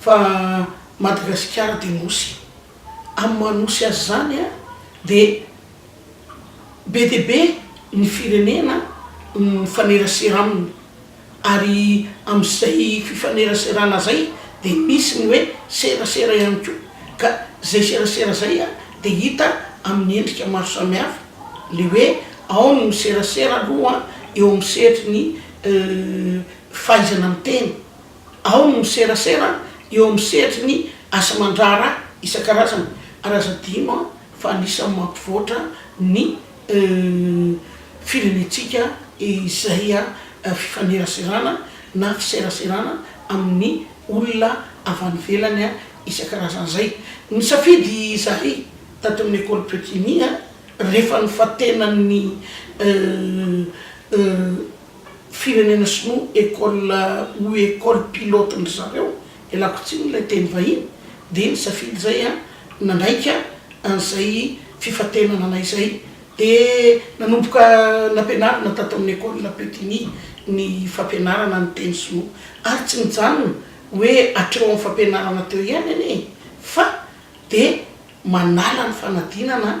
Fa Madagasikara dia Nosy. Amin'ny maha Nosy azy izany dia be dia be ny firenena mifanerasera aminy. Ary amin'izay fifaneraserana izay dia misy ny hoe serasera ihany koa. Ka izay serasera izay dia hita amin'ny endrika maro samihafa. Ilay hoe ao ny miserasera aloha eo amin'ny sehatry ny fahaizana miteny. Ao ny miserasera eo amin'ny sehatry ny asa aman-draharaha isan-karazany ary aza adino fa anisan'ny mampivoatra ny firenentsika izay fifaneraserana na fiseraserana amin'ny olona avy any ivelany isan-karazany izay. Nisafidy izahay tato amin'ny Ecole Petit Niah rehefa nofatenan'ny. firenena sinoa école ou école pilote ndry zareo de lakotsiny ilay teny vahiny de nisafidy zay an nanaika an'izay fifantenana anay zay de nanomboka nampianarina tato amin'ny école Putini ny fampianarana ny teny sinoa ary tsy nijanona hoe hatreo amin'ny fampianarana teo ihany anie fa de manala ny fanadinana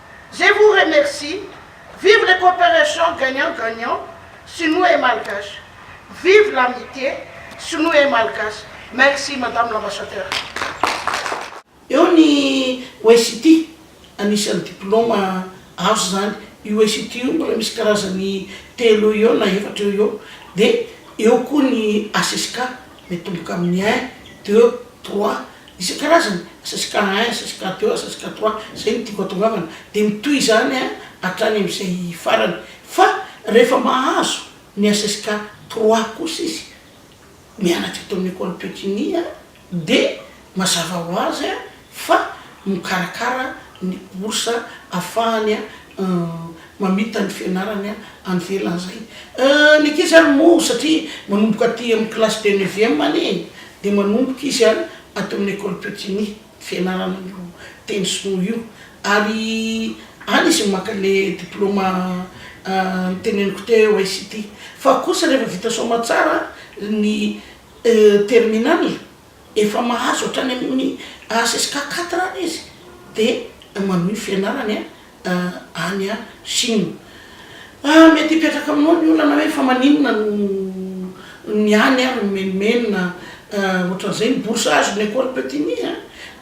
Je vous remercie, vive les cooperations gagnant gagnant sinoa et malgache, vive l'amite sinoa et malgache, merci madame l'ambassadeur. Eo ny UST, anisan'ny diploma azo izany. Io UST io mbola misy karazany telo eo eo na efatra eo eo. Dia eo koa ny HSK, miatomboka amin'ny un, deux, trois, Isan-karazany, ss cas un, ss cas deux, ss cas trois, zay no tiako atongavana, de mitohy izany a hatrany amin'izay farany, fa rehefa mahazo ny ss cas trois kosa izy mianatra eto amin'ny ecole Pekini a de mazava ho azy a fa mikarakara ny bourse afahany a. mamita ny fianarany any velany zay ny ankizy ary moa satria manomboka aty amin'ny classe de neuvième any e de manomboka izy a ato amin'ny ecole Putini ny fianarana an'io teny sinoa io ary any izy no maka le diploma niteneniko teo ICT fa kosa rehefa vita soamatsara ny terminale Efa mahazo hatrany amin'ny HSK quatre any izy dia manohy ny fianarany any Chine. Mety hipetraka aminao ny olana hoe fa maninona no ny any ary mimenomenona ohatran'izay ny bourse azon'ny Ecole Petit-Ny a!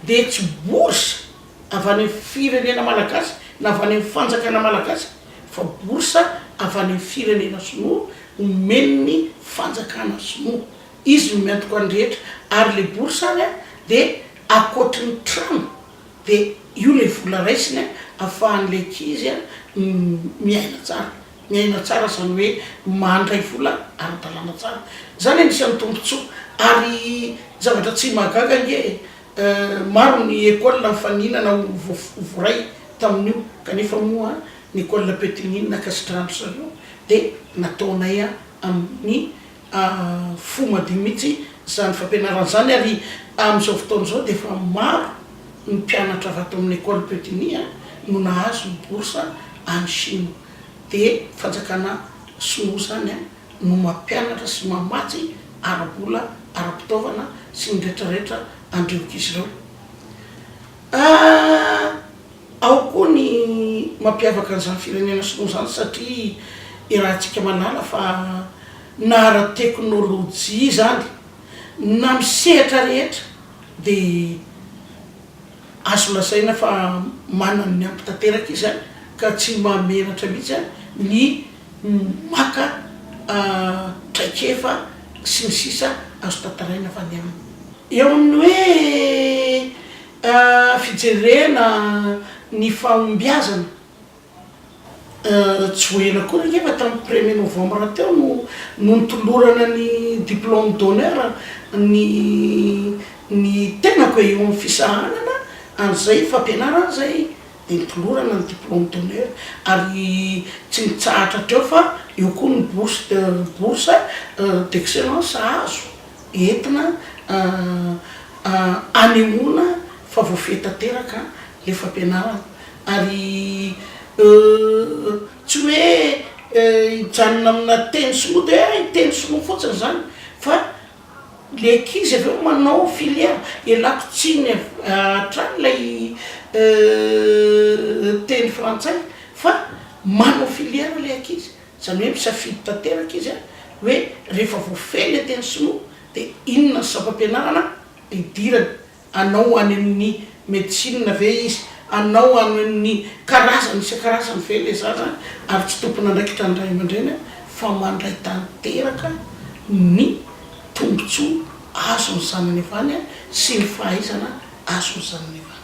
dia tsy bourse avy any amin'ny firenena malagasy na avy any amin'ny fanjakana malagasy fa bourse avy any amin'ny firenena sinoa omen'ny fanjakana sinoa Izy no miantoka ho an'ny rehetra ary ilay bourse ary dia ankoatry ny trano dia io ilay vola raisiny afahan'ilay ankizy miaina tsara, miaina tsara izany hoe mandray vola ara-dalàna tsara, izany anisan'ny tombotsoa ary zavatra tsy mahagaga ange e! maro ny école nifaninana ho voaray tamin'io kanefa moa ny école Petit Nina ankasitrahan-dry zareo dia nataonay amin'ny Ah fo madio mihitsy izany fampianarana izany ary amin'izao fotoana izao dia efa maro ny mpianatra avy ato amin'ny Ecole Peutigny a no nahazo ny bourse any Chine. Dia fanjakana sinoa izany a no mampianatra sy mamatsy ara-bola, ara-pitaovana sy ny rehetra rehetra an'ireo ankizy ireo. Ah. Ao koa ny mampiavaka an'izany firenena sinoa izany satria iarahantsika manala fa na ara-teknolojia izany na amin'ny sehatra rehetra dia azo lazaina fa manana ny ampy tanteraka izy ka tsy mahamenatra mihitsy ny maka traikefa sy ny sisa azo tantaraina avy any aminy. Eo amin'ny hoe. Fijerena ny fahombiazana joena koa angefa tamin'ny premier novembre teo no no nitolorana ny diplôme d'honneur ny ny tenako eo amin'ny fisahanana an'izay fampianarana izay dia nitolorana ny diplôme d'honneur ary tsy nitsahatra hatreo fa eo koa ny bourse de bourse d'excellence azo. entina hanehoana fa voafehy tanteraka ilay fampianarana ary tsy hoe hijanona amina teny sinoa dia hoe teny sinoa fotsiny izany fa ilay ankizy avy eo manao filière, ialako tsiny hatrany ilay teny frantsay fa manao filière ilay ankizy. Izany hoe misafidy tanteraka izy hoe rehefa voafehy ilay teny sinoa dia inona ny sampam-pianarana hidirany. Hanao ho any amin'ny medecine ve izy? Hanao ho any amin'ny karazany isan-karazany ve ilay zaza? Ary tsy tompon'andraikitra ny ray aman-dreny fa mandray tanteraka ny tombontsoa azon'ny zanany avy any sy ny fahaizana azon'ny zanany avy any.